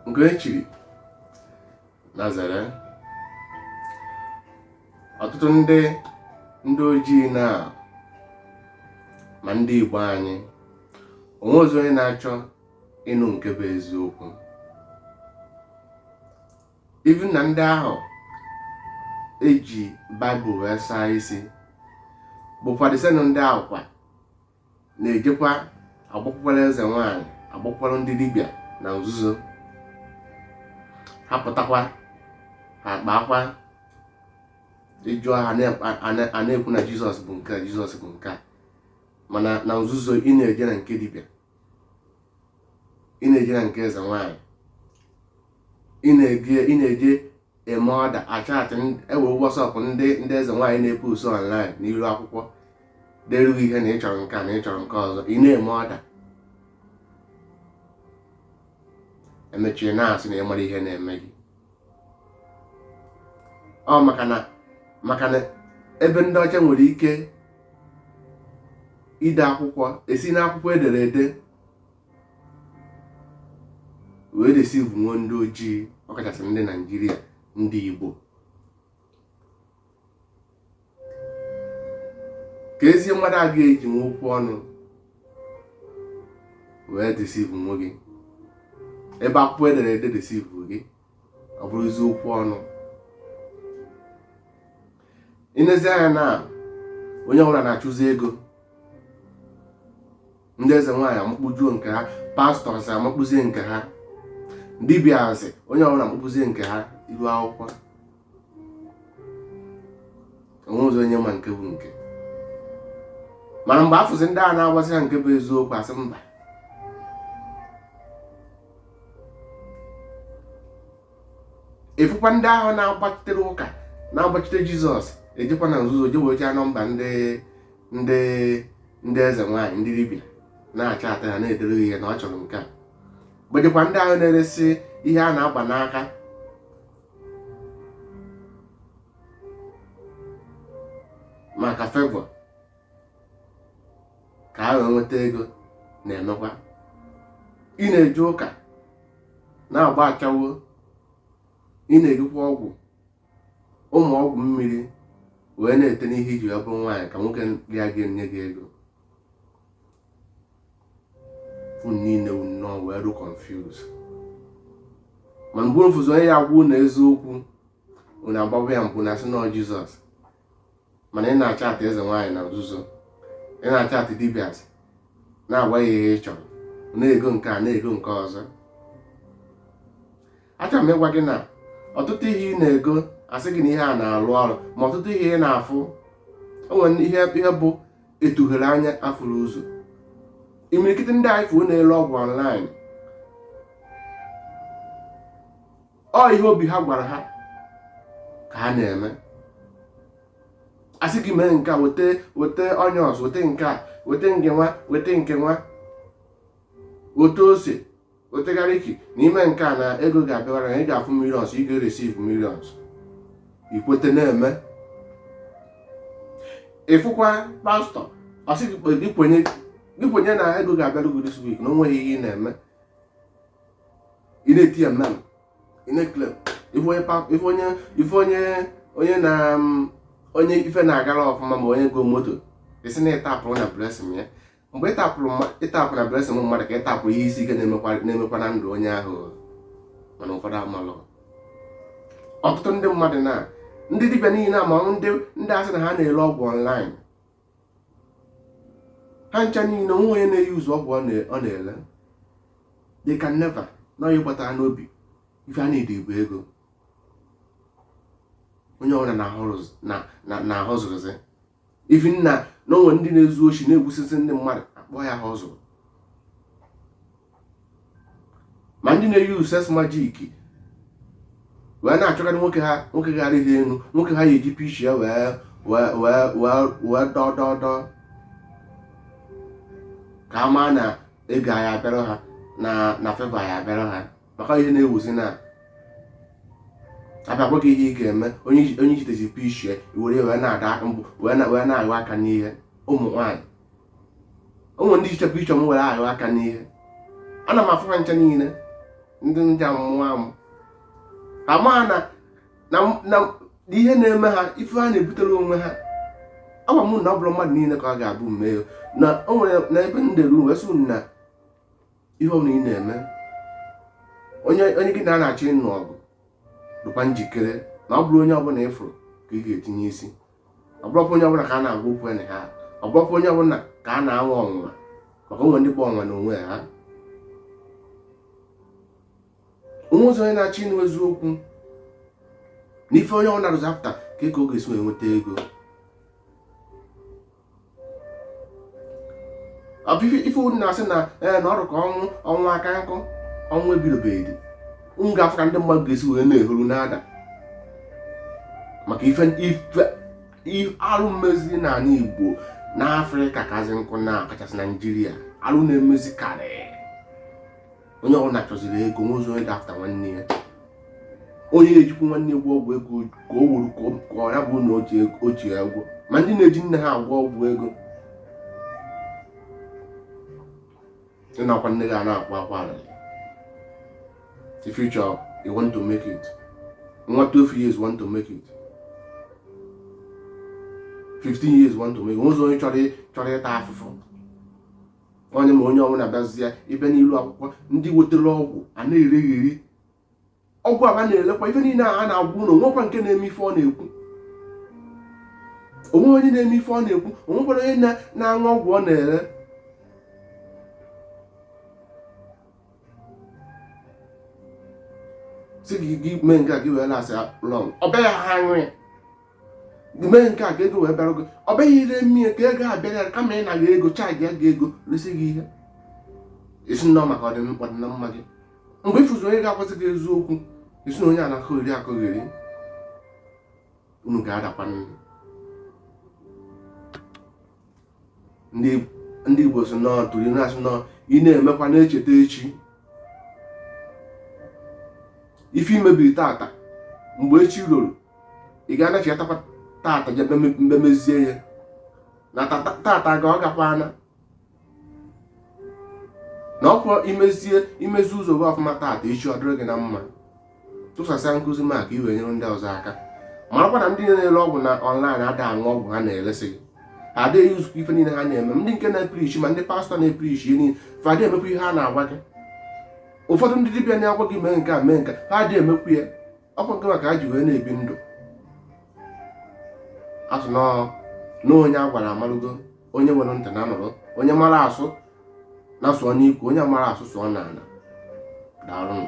nke e chiri nazareth ọtụtụ ndị ndị ojii na ma ndị Igbo anyị onwerọzi onye na-achọ ịnụ nke bụ eziokwu even na ndị ahụ eji baịbụl wee saa isi bụkwa the same ndị ahụ kwa na-ejekwa agbakwukwara eze nwaanyị agbakwukwara ndị dibịa na nzuzo ha pụtakwa ha kpaakwa ịjụ ha a na-ekwu na jizọs bụ nke a jizọs bụ nke a mana na nzuzo ị na-eje na nke dibịa ị na-eje na nke eze nwaanyị ị na-eje ị na-eje eme order achatị ewe whatsapp ndị ndị eze nwaanyị na-epost online n'iru akwụkwọ derughị ihe na ị chọrọ nke a na ị chọrọ nke ọzọ ị na-eme order emechaa ị na-asị na ị mara ihe na-eme gị ọ maka na maka na ebe ndị ọcha nwere ike ide akwụkwọ esi n'akwụkwọ edere ede wee deceive nwe ndị ojii ọkachasị ndị naijiria ndị igbo ka ezie mmadụ a ga-eji wee okwu ọnụ wee deceive nwe gị ebe akwụkwọ edere ede deceive gị ọ bụrụzi okwu ọnụ i nezi anya na onye ọbụla na-achụzi ego ndị eze nwaanyị amakpujuo nke ha pastors amakpuzie nke ha dibịazi onye ọbụla amakpuzie nke ha iru akwụkwọ onwerọzi onye ma nke bụ nke mana mgbe a fụzi ndị a na-agwasị ha nke bụ eziokwu asị mba ị fụkwa ndị ahụ na-agbachitere ụka na-agbachite jizọs ejekwa na nzuzo je wee number ndị ndị ndị eze nwaanyị ndị dibịa na-achat ha na-edere ihe na ọ chọrọ nke a gbajekwa ndị ahụ na-eresi ihe a na-agba n'aka maka favour ka a wee nweta ego na-emekwa ị na-eje ụka na-agba ashawo ị na-ejikwa ọgwụ ụmụ ọgwụ mmiri wee na-ete n'ihe iji wee bụrụ nwaanyị ka nwoke raa gị nye gị ego unu niile unu nọ wee rụ confuse ma mgbe mfụzi onye ya-agwa unu eziokwu unu agbawa ya mkpu na asị na ọ jizọs mana ị na-achatị eze nwaanyị na nzuzo ị na-achatị dibias na-agwa ya ihe ị chọrọ na-ego nke a na-ego nke ọzọ achọrọ m ịgwa gị na ọtụtụ ihe ị na-ego asị gị na ihe a na-arụ ọrụ ma ọtụtụ ihe ị na-afụ o nwere ihe ihe bụ etughere anya afụrụ ụzọ imirikiti ndị anyị fụrụ na-ele ọgwụ online ọ ihe obi ha gwara ha ka ha na-eme asị gị mee nke a weta weta onions weta nke a weta nke nwa weta nke nwa weta ose weta garlic na i mee nke a na ego ga-abịawara na ị ga-afụ millions ị ga-receive millions i kwete na-eme ị fụkwa pastọ ọ sị gị kpe- gị kwenye gị kwenye na ego ga-abịara gị this week na o nweghị ihe ị na-eme ị na-eti amen ị na-eclaim ife onye pa- ife onye ife onye onye na mm, onye ife na-agara ọfụma ma onye goo moto ị sị na ị tapụrụ na blessing ya mgbe ị tapụrụ ị tapụ na blessing mmadụ ka ị tapụ ihe isi ike na-emekwa na ndụ onye ahụ mana ụfọdụ amalụ ọtụtụ ndị mmadụ na ndị dibịa niile a ma ndị ndị asị na ha na-ele ọgwụ ọnlaịn ha ncha niile o nweghị onye na-euse ọgwụ ọ na-ele they can never na onye bata ha n'obi ife a na-ede bụ ego onye ọbụla na-ahustlezi even na o nwere ndị na-ezu oshi na-egbusisi ndị mmadụ akpọ ya hustle ma ndị na-eyi uses majik wee na-achọgharị nwoke ha nwoke gara ihe elu nwoke ha ya-eji picture wee wee wee wee wee dọdọdọ ka a maa na ego ya-abịara ha na na favour ya-abịara ha maka ihe na-ewuzi na abịakwa gị ihe ị ga-eme onye i jidezi picture ya were wee na-ada mbụ wee na-ahụ aka n'ihe ụmụ nwaanyị ụmụ ndị jicha picture m were ahụ aka n'ihe ana m afụ ha ncha niile ndị ajọ mmụọ amụ ama na na ihe na-eme ha ife ha na-ebutere onwe ha agwa m na ọ bụrọ mmadụ niile ka ọ ga-abụ mmehie na o nwere na ebe m dere wee sị na ihe ọbụla ị na-eme onye onye gị na ya na-achọ ịnụ ọgụ dịkwa njikere na ọ bụrọ onye ọbụla ị fụrụ ka ị ga-etinye isi ọ bụrọkwa onye ọbụla ka a na-agwa okwu na ha ọ bụrọkwa onye ọbụla ka a na-anwa ọnwụnwa maka o nwe ndị bụ ọnwụnwa na onwe ha o nwezịrọ onye na-achọ ịnụ eziokwu na ife onye ọbụla rụzapụta ka ego ọ ga-esi wee nweta ego ife unu na-asị na ee na ọrụ ka ọnwụ ọnwụ aka nkụ ọnwụ ebidobeghị unu ga-afụ ka ndị mmadụ ga-esi wee na-ehuru na-ada maka ife alụ mmezi n'ala Igbo n'Afrịka kazi nkụ na ọ kachasị Naijiria alụ na-emezi karịa onye ọwụna chọziri ego o nwezirọ onye na-afụta nwanne ya onye na-ejikwu nwanne ya agwọ ọgwụ ego ka o wuru ka ọ ya bụ na o ji ya ụgwọ ma ndị na-eji nne ha agwọ ọgwụ ego ị nọkwa nne gị a na-akwa akwa arịrị the future you want to make it nwa 12 years want to make it 15 years want to make it o nwezirọ onye chọrọ ịta afụfụ onye ma onye ọwụna bịazịa ebe n'ilu akwụkwọ ndị wetara ọgwụ a na-eregheri ọgwụ aba na-elekwa ife niile a na-agwa unu o nwekwa nke na-eme ife ọ na-ekwu o nwe onye na-eme ife ọ na-ekwu o nwekwara onye na-aṅụ ọgwụ ọ na-ere sị gị mee nke a gị wee last long ọ bịaghị ha aṅụ ya mee nke a ka ego wee bịara gị ọ bịarọ eme ya ka ego abịara ya kama ịna gị ego chaajịa gị ego resi gị ihe sị na ọ maka ọdịna mma gị mgbe ị fụzi onye ga-agwasị gị eziokwu ị sị na onye a na-akọgheri akọgheri unu ga-adakwa nri ndị igbo sị na a tụrụ inu sị na ị na-emekwa na-echeta echi ife i mebiri tata mgbe echi ruru ị ga-anachiatakwa tata jee memezie ya na tata gaa ọ gakwaana na ọ kwa i mezie i mezie ụzọ gị ọfụma tata echi ọ dịrị gị na mma tụsasịa nkụzi m a ka i wee nyere ndị ọzọ aka marakwa na ndị na-ere ọgwụ na ọnlaịn ada aṅụ ọgwụ ha na-eresị gị ha adịghị yuzukwa ife niile ha na-eme ndị nke na-epirichi ma ndị pastọ na-epirichi ihe niile fa adịghị emekwa ihe ha na-agwa gị ụfọdụ ndị dibịa na-agwa gị mee nke a mee nke a ha adịghị emekwa ya ọ kwa nke maka ha ji wee na-ebi ndụ a sị na onye a gwara amarugo onye nwere ntị nya nụrụ onye mara asụ nya sụọ n'ikwe onye amarọ asụ sụọ n'ala daalụnụ